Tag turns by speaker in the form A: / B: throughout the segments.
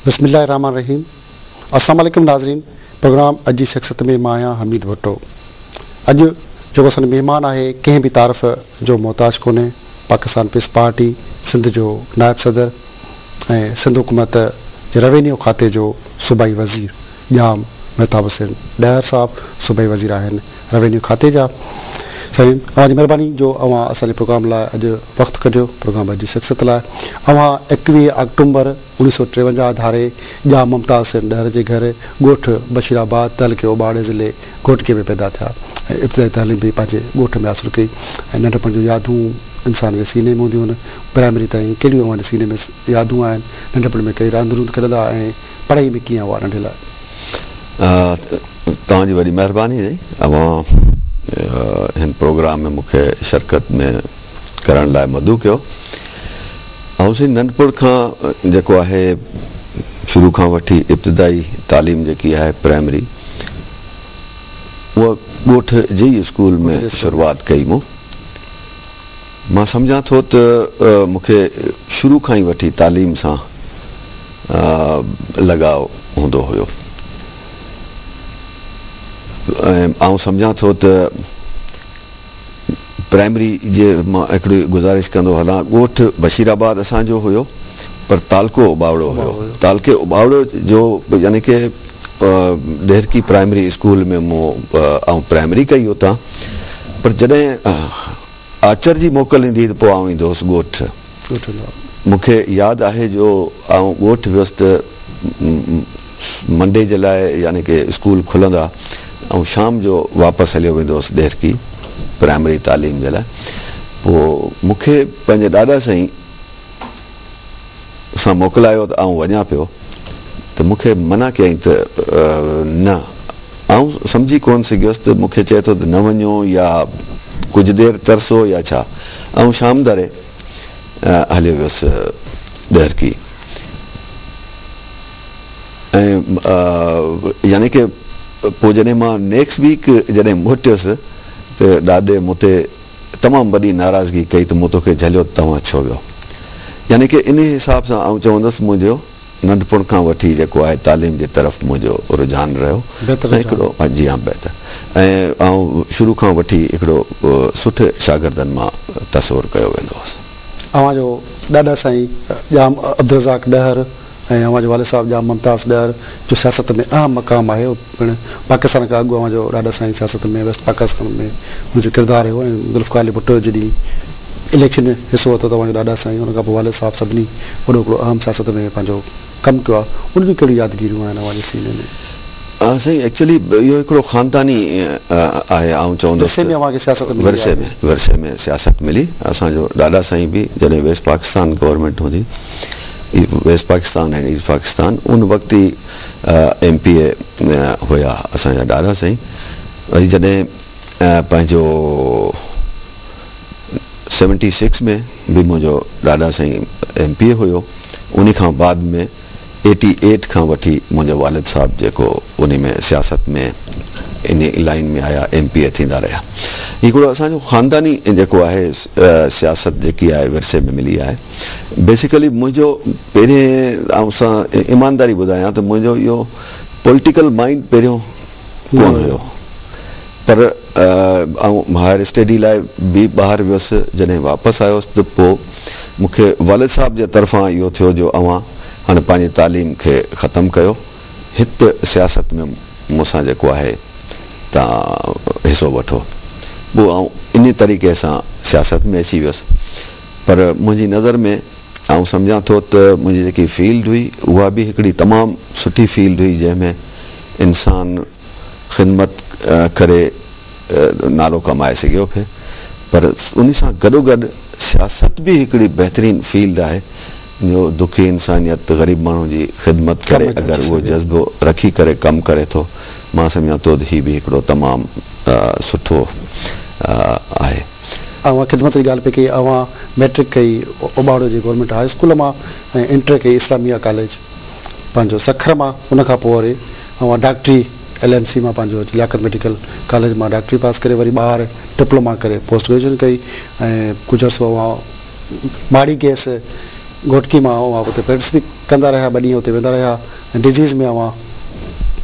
A: بسم الله الرحمن الرحيم السلام عليڪم ناظرين پروگرام اڄ جي شخصيت ۾ مان آهيان حميد ڀٽو اڄ جيڪو اسان جو مهمان آهي ڪنهن به تعارف جو محتاج ڪونهي پاڪستان پيس پارٽي سنڌ جو نائب صدر ۽ سنڌ حڪومت جي روينيو کاتي جو صوبائي وزير ڄام مهتاب حسين ڏهر صاحب صوبائي وزير آهن روينيو کاتي جا. سائين اوهان جي مهرباني جو اوهان اسان جي پروگرام لاء اڄ وقت ڪڍيو پروگرام اڄ جي شخصيت لاء اوهان ايڪويهه آڪٽومبر اڻويهه سؤ ٽيونجاهه ڌاري ڄام ممتاز حسين ڏهر جي گهر ڳوٺ بشير آباد تعلقي اوٻاڙي ضلعي گهوٽڪي ۾ پيدا ٿيا ۽ ابتدائي تعليم به پنهنجي ڳوٺ ۾ حاصل ڪئي ۽ ننڍپڻ جون يادون انسان جي سيني ۾ هونديون آهن پرائمري تائين ڪهڙيون اوهان جي سيني ۾ يادون آهن ننڍپڻ ۾ ڪهڙي راند روند کيڏندا ۽ پڙهائي ۾ ڪيئن اها ننڍي لاء.
B: توهان جي وڏي مهرباني اهي اوهان هن پروگرام ۾ مون کي شرڪت ۾ ڪرڻ لاء مدعو ڪيو آئون سائين ننڍپڻ کان جيڪو آهي شروع کان وٺي ابتدائي تعليم جيڪي آهي پرائمري اها ڳوٺ جي ئي اسڪول ۾ شروعات ڪئي مون مان سمجهان ٿو ته مون کي شروع کان ئي وٺي تعليم سان لڳاء هوندو هيو ۽ آئون سمجهان ٿو ته پرائمري جي مان هڪڙي گذارش ڪندو هلان ڳوٺ بشير آباد اسان جو هيو پر تعلقو اٻاوڙو هيو تعلقي اٻاوڙو جو يعني ڪي ڏهرڪي پرائمري اسڪول ۾ مون آئون پرائمري ڪئي اتان پر جڏهن آچر جي موڪل ايندي هئي ته پوء آئون ايندو هوس ڳوٺ مون کي ياد آهي جو آئون ڳوٺ ويس ته منڊي جي لاء يعني ڪي اسڪول کلندا آئون شام جو واپس هليو ويندو هوس ڏهرڪي پرائمري تعليم جي لاء پوء مون کي پنهنجي ڏاڏا سائين سان موڪلايو ته آئون وڃان پيو ته مون کي منع ڪيائين ته نه آئون سمجهي ڪونه سگهيس ته مون کي چئي ٿو ته نه وڃو يا ڪجهه دير ترسو يا ڇا؟ آئون شام ڌاري هليو ويس ڏهرڪي ۽ يعني ڪه پوء جڏهن مان نيڪس ويڪ جڏهن موٽيس ته ڏاڏي مون تي تمام وڏي ناراضگي ڪئي ته مون توکي جهليو ته توهان ڇو ويو؟ يعني ڪه انهي حساب سان آئون چوندس منهنجو ننڍپڻ کان وٺي جيڪو آهي تعليم جي طرف منهنجو رجحان رهيو ۽ هڪڙو جي ها بهتر ۽ آئون شروع کان وٺي هڪڙو سٺي شاگردن مان تصور ڪيو ويندو هوس. اوهان جو
A: ڏاڏا سائين ڄام عبدالرزاق ڏهر ۽ اوهان جو والد صاحب ڄام ممتاز ڏهر جو سياست ۾ اهم مقام آهي. پڻ پاڪستان کان اڳ اوهان جو ڏاڏا سائين سياست ۾ ويسٽ پاڪستان ۾ ان جو ڪردار رهيو ۽ ذوالفقار علي ڀٽو جڏهن اليڪشن ۾ حصو ورتو ته اوهان جو ڏاڏا سائين ان کان پوء والد صاحب سڀني وڏو هڪڙو اهم سياست ۾ پنهنجو ڪم ڪيو آهي ان جون ڪهڙيون يادگيريون آهن اوهان جي سيني ۾؟ ها سائين
B: ايڪچولي اهو هڪڙو خانداني آهي آئون چوندس ورثي ۾ اوهان کي سياست ملي ورثي ۾ ورثي ۾ سياست ملي اسان جو ڏاڏا سائين به جڏهن ويسٽ پاڪستان گورنمينٽ هوندي ويسٽ پاڪستان ۽ ايسٽ پاڪستان ان وقت ئي ايم پي اي هيا اسان جا ڏاڏا سائين وري جڏهن پنهنجو سيونٽي سڪس ۾ به منهنجو ڏاڏا سائين ايم پي اي هيو انهي کان بعد ۾ ايٽي ايٽ کان وٺي منهنجو والد صاحب جيڪو انهي ۾ سياست ۾ انهي لائين ۾ آيا ايم پي اي ٿيندا رهيا هي هڪڙو اسان جو خانداني جيڪو آهي سياست جيڪي آهي ورثي ۾ ملي آهي. بيسيڪلي منهنجو پهرين آئون سان ايمانداري ٻڌايان ته منهنجو اهو پوليٽيڪل مائينڊ پهريون ڪونه هيو پر آئون هائر اسٽيڊي لاء به ٻاهر ويس جڏهن واپس آيس ته پوء مون کي والد صاحب جي طرفان اهو ٿيو جو اوهان هاڻي پنهنجي تعليم کي ختم ڪيو هت سياست ۾ مون سان جيڪو آهي تان حصو وٺو پوء آئون انهي طريقي سان سياست ۾ اچي ويس پر منهنجي نظر ۾ آئون سمجهان ٿو ته منهنجي جيڪي فيلڊ هئي اها به هڪڙي تمام سٺي فيلڊ هئي جنهن ۾ انسان خدمت ڪري نالو ڪمائي سگهيو پئي پر انهي سان گڏوگڏ سياست به هڪڙي بهترين فيلڊ آهي جو دکي انسانيت غريب ماڻهو جي خدمت ڪري اگر اهو جذبو رکي ڪري ڪم ڪري ٿو مان سمجهان ٿو ته هي به هڪڙو تمام سٺو آهي. اوهان
A: خدمت جي ڳالهه پئي ڪئي اوهان مئٽرڪ ڪئي اوٻاڙو جي گورنمينٽ هاء اسڪول مان ۽ انٽر ڪئي اسلاميه ڪاليج پنهنجو سکر مان ان کان پوء وري اوهان ڊاڪٽري ايل ايم سي مان پنهنجو لياقت ميڊيڪل ڪاليج مان ڊاڪٽري پاس ڪري وري ٻاهر ڊپلوما ڪري پوسٽ گريجوئيشن ڪئي ۽ ڪجهه عرصو اوهان ماڙي گئس گهوٽڪي مان اوهان اتي پريڪٽس به ڪندا رهيا ٻه ڏينهن اتي ويندا رهيا ۽ ڊزيز ۾ اوهان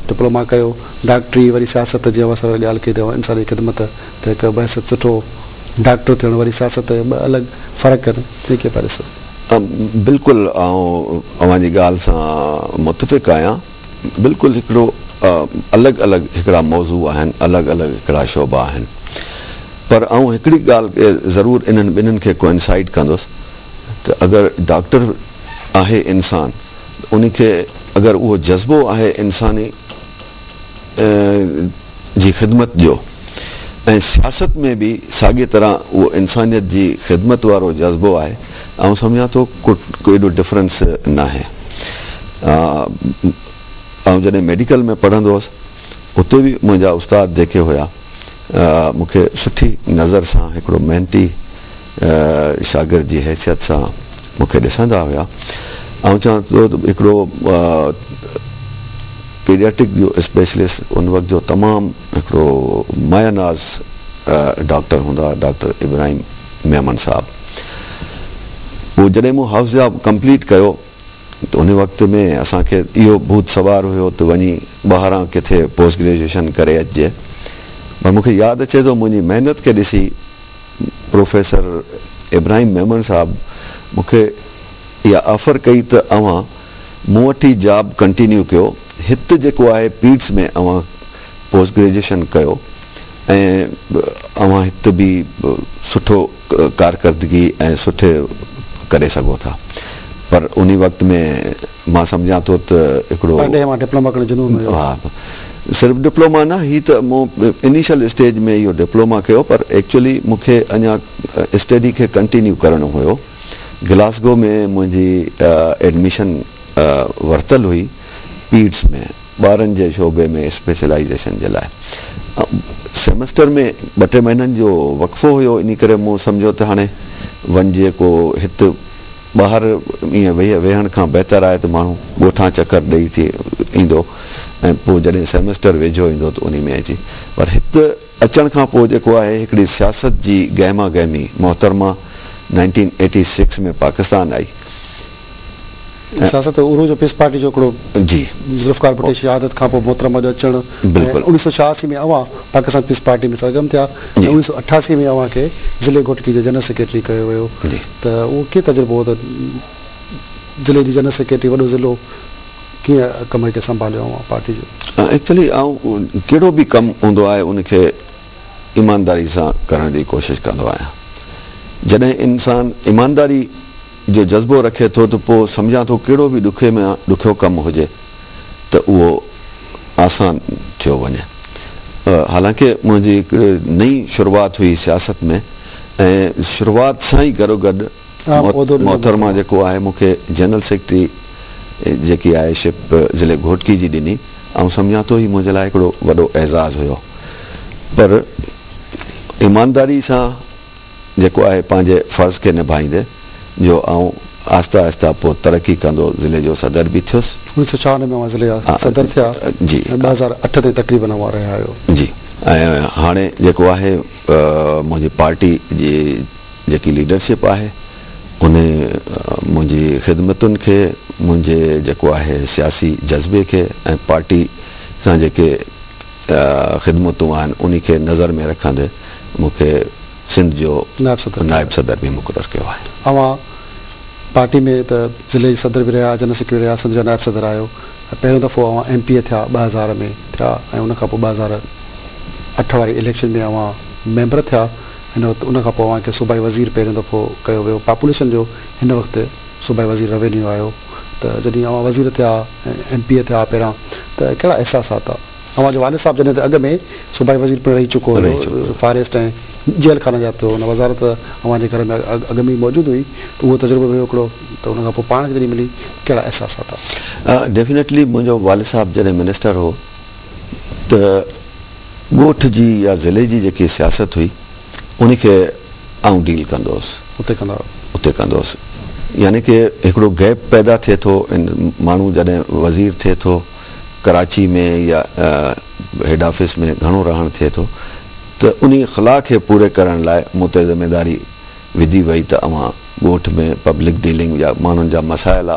A: ڊپلوما ڪيو ڊاڪٽري وري سياست جي اوهان سوير ڳالهه ڪئي ته اوهان انساني خدمت ته هڪ بحثيت سٺو ڊاڪٽر ٿيڻ وري سياست ۽ ٻه الڳ فرق آهن، جنهن کي پهرين سڌ. بلڪل
B: آئون اوهان جي ڳالهه سان متفق آهيان، بلڪل هڪڙو الڳ الڳ هڪڙا موضوع آهن، الڳ الڳ هڪڙا شعبا آهن، پر آئون هڪڙي ڳالهه کي ضرور انهن ٻنهن کي Coincide ڪندس ته اگر ڊاڪٽر آهي انسان ته ان کي اگر اهو جذبو آهي انساني، جي خدمت جو ۽ سياست ۾ به ساڳي طرح اهو انسانيت جي خدمت وارو جذبو آهي آئون سمجهان ٿو ڪو ايڏو ڊفرنس ناهي آئون جڏهن ميڊيڪل ۾ پڙهندو هوس اتي به منهنجا استاد جيڪي هيا مون کي سٺي نظر سان هڪڙو محنتي شاگرد جي حيثيت سان مون کي ڏسندا هيا. آئون چوان ٿو ته هڪڙو پيڊياٽڪ جو اسپيشلسٽ ان وقت جو تمام هڪڙو مايه ناز ڊاڪٽر هوندا هئا ڊاڪٽر ابراهيم ميمڻ صاحب. پوء جڏهن مون هائوس جاب ڪمپليٽ ڪيو ته ان وقت ۾ اسان کي اهو ڀوت سوار هيو ته وڃي ٻاهران ڪٿي پوسٽ گريجوئيشن ڪري اچجي پر مون کي ياد اچي ٿو منهنجي محنت کي ڏسي پروفيسر ابراهيم ميمڻ صاحب مون کي اها آفر ڪئي ته اوهان مون وٽ ئي جاب ڪنٽينيو ڪيو هت جيڪو آهي پيڊس ۾ اوهان پوسٽ گريجوئيشن ڪيو ۽ اوهان هت به سٺو ڪارڪردگي ۽ سٺي ڪري سگهو ٿا پر انهي وقت ۾ مان سمجهان ٿو ته هڪڙو. پرڏيهه مان ڊپلوما ڪرڻ جنون
A: هيو. ها
B: صرف ڊپلوما نه هي ته مون انيشل اسٽيج ۾ اهو ڊپلوما ڪيو پر ايڪچولي مون کي اڃا اسٽڊي کي ڪنٽينيو ڪرڻو هيو گلاسگو ۾ منهنجي ايڊميشن ورتل هئي پيڊس ۾ ٻارن جي شعبي ۾ اسپيشلائيزيشن جي لاء سيمسٽر ۾ ٻه ٽي مهينن جو وقفو هيو انهي ڪري مون سمجهيو ته هاڻي وڃجي ڪو هت ٻاهر ائين ويهڻ کان بهتر آهي ته ماڻهو ڳوٺان چڪر ڏئي ٿي ايندو ۽ پوء جڏهن سيمسٽر ويجهو ايندو ته انهي ۾ اچي پر هت اچڻ کان پوء جيڪو آهي هڪڙي سياست جي گهما گهمي محترمه نائنٽين ايٽي سڪس ۾ پاڪستان آئي ۽
A: سياست ۽ عروج پيس پارٽي جو هڪڙو جي ذوالفقار
B: ڀٽي
A: شهادت کان پوء محترمه جو اچڻ ۽ بلڪل اوڻيهه سؤ ڇهاسي ۾ اوهان پاڪستان پيس پارٽي ۾ سرگرم ٿيا ۽ جي اوڻيهه سؤ اٺاسي ۾ اوهان کي ضلعي گهوٽڪي جو جنرل سيڪريٽري ڪيو ويو جي. ته اهو ڪيئن تجربو هو ته ضلعي جي جنرل سيڪريٽري وڏو ضلعو ڪيئن ڪم کي سنڀاليو اوهان پارٽي جو؟ ايڪچولي آئون
B: ڪهڙو به ڪم هوندو آهي ان کي ايمانداري سان ڪرڻ جي ڪوشش ڪندو آهيان. جڏهن انسان ايمانداري جو جذبو رکي ٿو ته پوء سمجهان ٿو ڪهڙو به ڏکي مان ڏکيو ڪم هجي ته اهو آسان ٿيو وڃي. حالانڪ منهنجي هڪڙي نئين شروعات هئي سياست ۾ ۽ شروعات سان ئي گڏوگڏ محترمه جيڪو آهي مون کي جنرل سيڪريٽري جيڪي آهي شپ ضلعي گهوٽڪي جي ڏني. آئون سمجهان ٿو هي منهنجي لاء هڪڙو وڏو اعزاز هيو پر ايمانداري سان جيڪو آهي پنهنجي فرض کي نڀائيندي جو آئون آهستي آهستي پوء ترقي ڪندو ضلعي جو صدر به ٿيس. اوڻيھ سؤ ڇاهه ۾ اوهان ضلعي جا
A: صدر ٿيا ۽ جي ٻه هزار
B: اٺ تائين
A: تقريبن اوهان رهيا آهيو. جي ۽
B: هاڻي جيڪو آهي منهنجي پارٽي جي جيڪي ليڊرشپ آهي ان منهنجي خدمتن کي منهنجي جيڪو آهي سياسي جذبي کي ۽ پارٽي سان جيڪي خدمتون آهن انهي کي نظر ۾ رکندي مون کي سنڌ جو نائب صدر به مقرر ڪيو آهي. اوهان
A: پارٽي ۾ ته ضلعي جي صدر به رهيا، جنرل سيڪريٽري رهيا، سنڌ جا نائب صدر آهيو ۽ پهريون دفعو اوهان ايم پي اي ٿيا ٻه هزار ۾ ٿيا ۽ ان کان پوء ٻه هزار اٺ واري اليڪشن ۾ اوهان ميمبر ٿيا هن وقت ان کان پوء اوهان کي صوبائي وزير پهريون دفعو ڪيو ويو پاپوليشن جو هن وقت صوبائي وزير روينيو آهيو ته جڏهن اوهان وزير ٿيا ايم پي اي ٿيا پهريان ته ڪهڙا احساسات هئا؟ اوهان جو والد صاحب جڏهن ته اڳ ۾ صوبائي وزير پڻ رهي چڪو هيو، فاريسٽ ۽ جيل خانه جات تي هو، ان وزارت ته اوهان جي گهر ۾ اڳ ۾ ئي موجود هئي ته اهو تجربو به هيو هڪڙو ته ان کان پوء پاڻ کي جڏهن ملي ته ڪهڙا احساسات آيا؟ ڊيفنيٽلي منهنجو
B: والد صاحب جڏهن منسٽر هو ته ڳوٺ جي يا ضلعي جي جيڪي سياست هئي ان کي آئون ڊيل ڪندو هوس. اتي ڪندا هئا. اتي ڪندو هوس. يعني ڪه هڪڙو گيپ پيدا ٿئي ٿو ان ماڻهو جڏهن وزير ٿئي ٿو. ڪراچي ۾ يا هيڊ آفيس ۾ گهڻو رهڻ ٿئي ٿو ته انهي خلا کي پوري ڪرڻ لاء مون تي ذميداري وڌي وئي ته اوهان ڳوٺ ۾ پبلڪ ڊيلنگ يا ماڻهن جا مسائل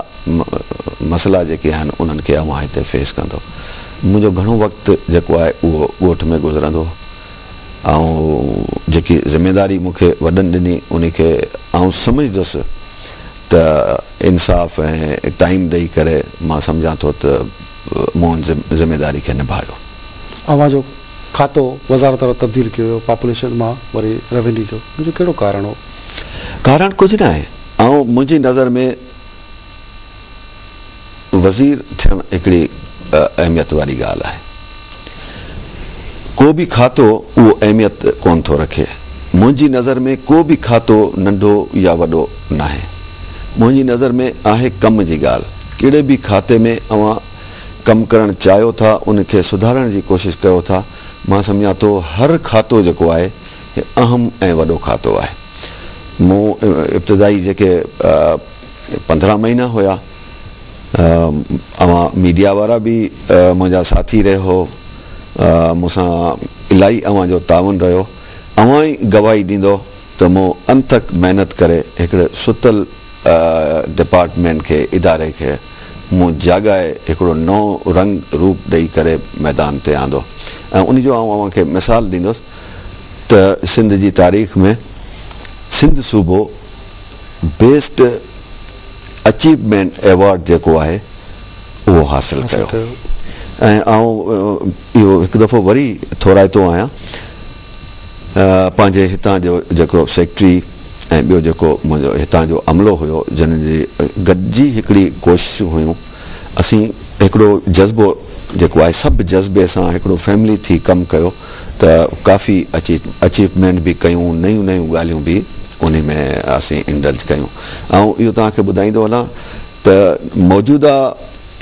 B: مسئلا جيڪي آهن انهن کي اوهان هتي فيس ڪندو منهنجو گهڻو وقت جيڪو آهي اهو ڳوٺ ۾ گذرندو آئون جيڪي ذميداري مون کي وڏن ڏني انهي کي آئون سمجهدس ته انصاف ۽ ٽائيم ڏئي ڪري مان سمجهان ٿو ته مون ان ذميداري کي نڀايو. اوهان جو
A: کاتو وزارت وارو تبديل ڪيو ويو پاپوليشن مان وري روينيو جو ان جو ڪهڙو ڪارڻ هو؟ ڪارڻ ڪجهه
B: ناهي آئون منهنجي نظر ۾. وزير ٿيڻ هڪڙي اهميت واري ڳالهه آهي. ڪو به کاتو اهو اهميت ڪونه ٿو رکي. منهنجي نظر ۾ ڪو به کاتو ننڍو يا وڏو ناهي. منهنجي نظر ۾ آهي ڪم جي ڳالهه. ڪهڙي به کاتي ۾ اوهان ڪم ڪرڻ چاهيو ٿا، ان کي سڌارڻ جي ڪوشش ڪيو ٿا. مان سمجهان ٿو هر کاتو جيڪو آهي هي اهم ۽ وڏو کاتو آهي. مون ابتدائي جيڪي پندرهن مهينا هيا. اوهان ميڊيا وارا به منهنجا ساٿي رهيو مون سان الاهي اوهان جو تعاون رهيو اوهان ئي گواهي ڏيندو ته مون انٿڪ محنت ڪري هڪڙي ستل ڊپارٽمينٽ کي اداري کي مون جاڳائي هڪڙو نئون رنگ روپ ڏئي ڪري ميدان تي آندو ۽ ان جو آئون اوهان کي مثال ڏيندس ته سنڌ جي تاريخ ۾ سنڌ صوبو بيسٽ اچيومينٽ ايوارڊ جيڪو آهي اهو حاصل ڪيو ۽ آئون اهو هڪ دفعو وري ٿورائتو آهيان پنهنجي هتان جو جيڪو سيڪريٽري ۽ ٻيو جيڪو منهنجو هتان جو عملو هيو جنهن جي گڏجي هڪڙي ڪوششون هيون اسين هڪڙو جذبو جيڪو آهي سڀ جذبي سان هڪڙو فيملي ٿي ڪم ڪيو ته ڪافي اچيومينٽ به ڪيون نيون نيون ڳالهيون به انهي ۾ اسين انڊلج ڪيون آئون اهو توهان کي ٻڌائيندو هلان ته موجوده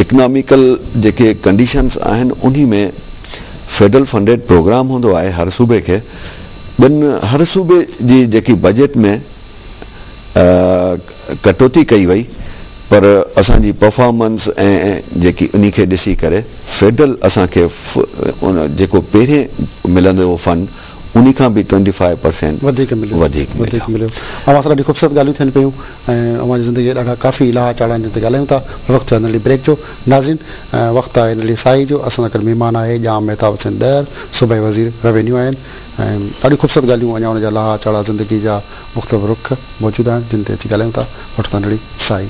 B: اڪناميڪل جيڪي ڪنڊيشنس آهن انهي ۾ فيڊرل فنڊيڊ پروگرام هوندو آهي هر صوبي کي ٻن هر صوبي جي جيڪي بجيٽ ۾ ڪٽوتي ڪئي وئي پر اسان جي پرفارمنس ۽ جيڪي انهي کي ڏسي ڪري فيڊرل اسان کي جيڪو پهرين ملندو هو فنڊ انهي کان به ٽوئنٽي فائيو پرسينٽ وڌيڪ مليو وڌيڪ مليو اوهان سان ڏاڍي خوبصورت ڳالهيون ٿين پيون ۽ اوهان جي زندگي جا ڏاڍا ڪافي لاها چاڙها جن تي ڳالهايون ٿا پر وقت ٿيو آهي ننڍڙي بريڪ جو ناظرين وقت آهي ننڍڙي ساهي جو اسان سان گڏ مهمان آهي ڄام مهتاب حسين ڏهر صوبائي وزير روينيو آهن ۽ ڏاڍيون خوبصورت ڳالهيون اڃا ان جا لاها چاڙها زندگي جا مختلف رخ موجود آهن جن تي اچي ڳالهايون ٿا وٺ ٿا نڙي سائي.